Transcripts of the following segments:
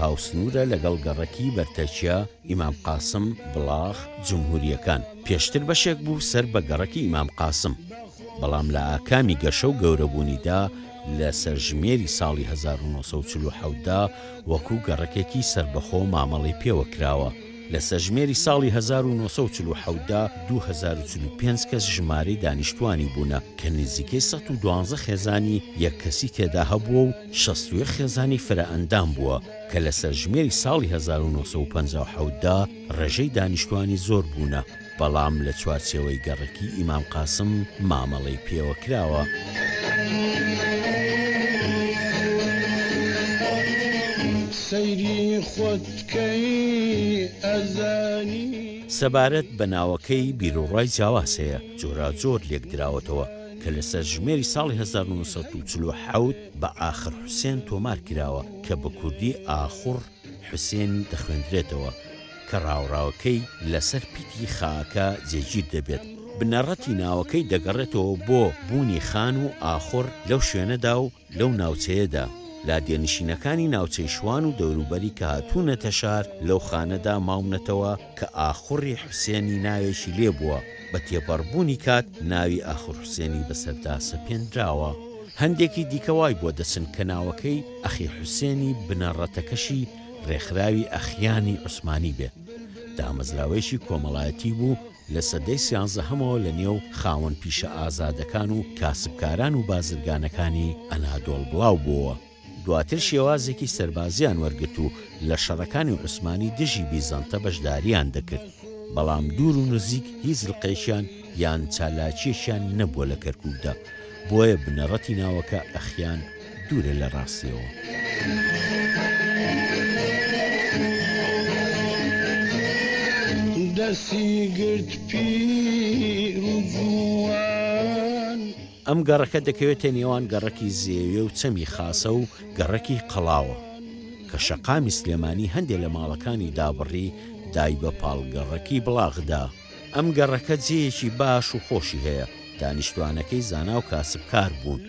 هاوسنوورە لەگەڵ گەڕەکی بەرتەکیە، ئیمام قاسم، بڵاخ، جمهورییەکان. پێشتر بەشێک بوو سەر بە گەڕەکی ئیمام قاسم، بەڵام لە ئاکامی گەشە و گەورەبوونیدا لە سەرژمێری ساڵی هەزار و نۆ سەد و چل و حەوت دا وەکوو گەڕەکێکی سەربەخۆ مامەڵەی پێوە کراوە. لە سەرژمێری ساڵی هەزار و نۆ سەد و چل و حەوت دا دوو هەزار و چل و پێنج کەس ژمارەی دانیشتووانی بوونە کە نزیکەی سەد و دوازدە خێزانی یەک کەسی تێدا هەبووە و شەست و یەک خێزانی فرەئەندام بووە کە لە سەرژمێری ساڵی هەزار و نۆ سەد و پەنجا و حەوت دا ڕێژەی دانیشتووانی زۆر بوونە، بەڵام لە چوارچێوەی گەڕەکی ئیمام قاسم مامەڵەی پێوە کراوە. سەبارەت بە ناوەکەی بیروڕای جیاواز هەیە، جۆراوجۆر لێکدراوەتەوە، کە لە سەرژمێری ساڵی هەزار و نۆ سەد و چل و حەوت بە ئاخر حوسێن تۆمار کراوە کە بە کوردی ئاخوڕ حوسێن دەخوێندرێتەوە کە ڕاوڕاوەکەی لە سەر پیتی خاکە جێگیر دەبێت. بنەڕەتی ناوەکەی دەگەڕێتەوە بۆ بوونی خان و ئاخوڕ لەو شوێنەدا و، لەو ناوچەیەدا لادێنشینەکانی ناوچەی شوان و دەوروبەری کە هاتوونەتە شار لەو خانەدا ماونەتەوە کە ئاخوڕی حوسێنی ناوێکی لێ بووە، بە تێپەڕبوونی کات ناوی ئاخور حوسێنی بەسەردا سەپێنراوە. هەندێکی دیکە وای بۆ دەچن کە ناوەکەی ئەخی حوسێنی بنەڕەتەکەشی ڕێکخراوی ئەخیانی عوسمانی بێت، دامەزراوەیەکی کۆمەڵایەتی بوو، لە سەدەی سیانزەهەمەوە لە نێو خاوەن پیشە ئازادەکان و کاسبکاران و بازرگانەکانی ئەنادۆڵ بڵاو بۆوە. دواتر شێوازێکی سەربازیان وەرگرت و لە شەڕەکانی عوسمانی دژی بیزەنتە بەشدارییان دەکرد. بەڵام دوور و نزیک هیچ لقێکیان یان چالاکییەکیان نەبووە لە کەرکووکدا، بۆیە بنەڕەتی ناوەکە ئەخیان دوورە لە ڕاستیەوە. ئەم گەڕەکە دەکەوێتە نێوان گەڕەکی زێوێ و چەمی خاسە و گەڕەکی قەڵاوە، کە شەقامی سلێمانی هەندێ لە ماڵەکانی دابڕی دای بە پاڵ گەڕەکی بڵاغدا. ئەم گەڕەکە جێیەکی باش و خۆشی هەیە، دانیشتوانەکەی زانا و کاسبکار بوون،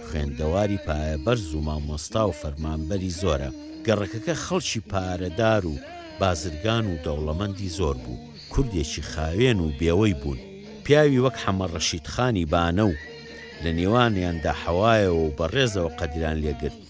خوێندەواری پایە بەرز و مامۆستا و فەرمانبەری زۆرە، گەڕەکەکە خەڵکی پارەدار و بازرگان و دەوڵەمەندی زۆر بوو، کوردێکی خاوێن و بێوەی بوون، پیاوی وەک حەمە ڕەشید خانی بانە و لە نێوانیاندا حەوایەوە و بە ڕێزەوە قەدریان لێگرت.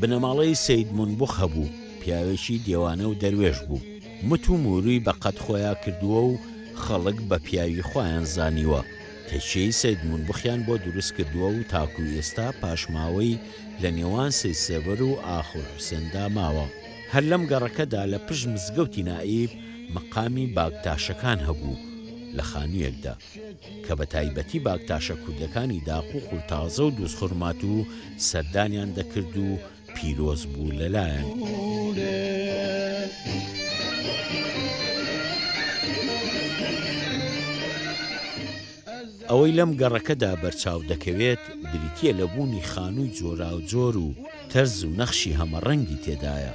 بنەماڵەی سەید مونبخ هەبوو، پیاوێکی دێوانە و دەروێش بوو، مت و موورووی بە قەد خۆیا کردووە و خەڵک بە پیاوی خۆیان زانیوە، تەکیەی سەید مونبخیان بۆ دروست کردووە و تاکوو ئێستا پاشماوەی لە نێوان سەید سێڤەر و ئاخوند حوسێندا ماوە. هەر لەم گەڕەکەدا لە پشت مزگەوتی نائیب مەقامی باگتاشەکان هەبوو لە خانوویەکدا. کە بە تایبەتی باکتاشە کوردەکانی داق و قورتازە و دوزخورماتوو سەردانیان دەکرد و پیرۆز بوو لە لایان. ئەوەی لەم گەڕەکەدا بەرچاو دەکەوێت بریتییە لە بوونی خانووی جۆراوجۆر و تەرز و نەخشی هەمەڕەنگی تێدایە،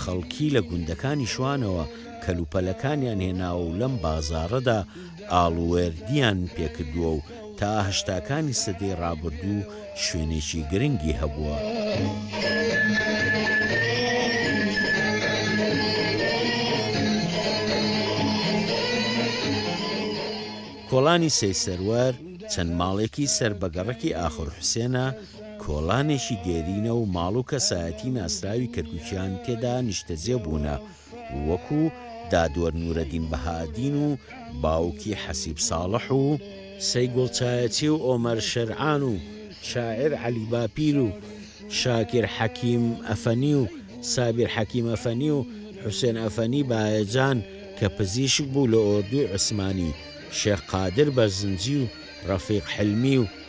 خەڵکی لە گوندەکانی شوانەوە کەلوپەلەکانیان هێناوە و لەم بازاڕەدا ئاڵووێردیان پێکردووە و تا هەشتاکانی سەدەی ڕابردوو شوێنێکی گرنگی هەبووە. کۆڵانی سەیسەروەر چەند ماڵێکی سەر بە گەڕەکی ئاخور حوسێنە کۆڵانێکی دێرینە و ماڵ و کەسایەتی ناسراوی کەرکوکیان تێدا نیشتەجێ بوونە وەکو، دادوەر نورەدین بەهائەدین و باوکی حەسیب ساڵح و، سەی گوڵچایەچی و ئۆمەر شێرعان و شاعیر عەلی باپیر و شاکیر حەکیم ئەفەنی و سابیر حەکیم ئەفەنی و حوسێن ئەفەنی بایەجان کە پزیشک بوو لە ئۆردوی عوسمانی، شێخ قادر بەرزنجی و ڕەفیق حلمی و،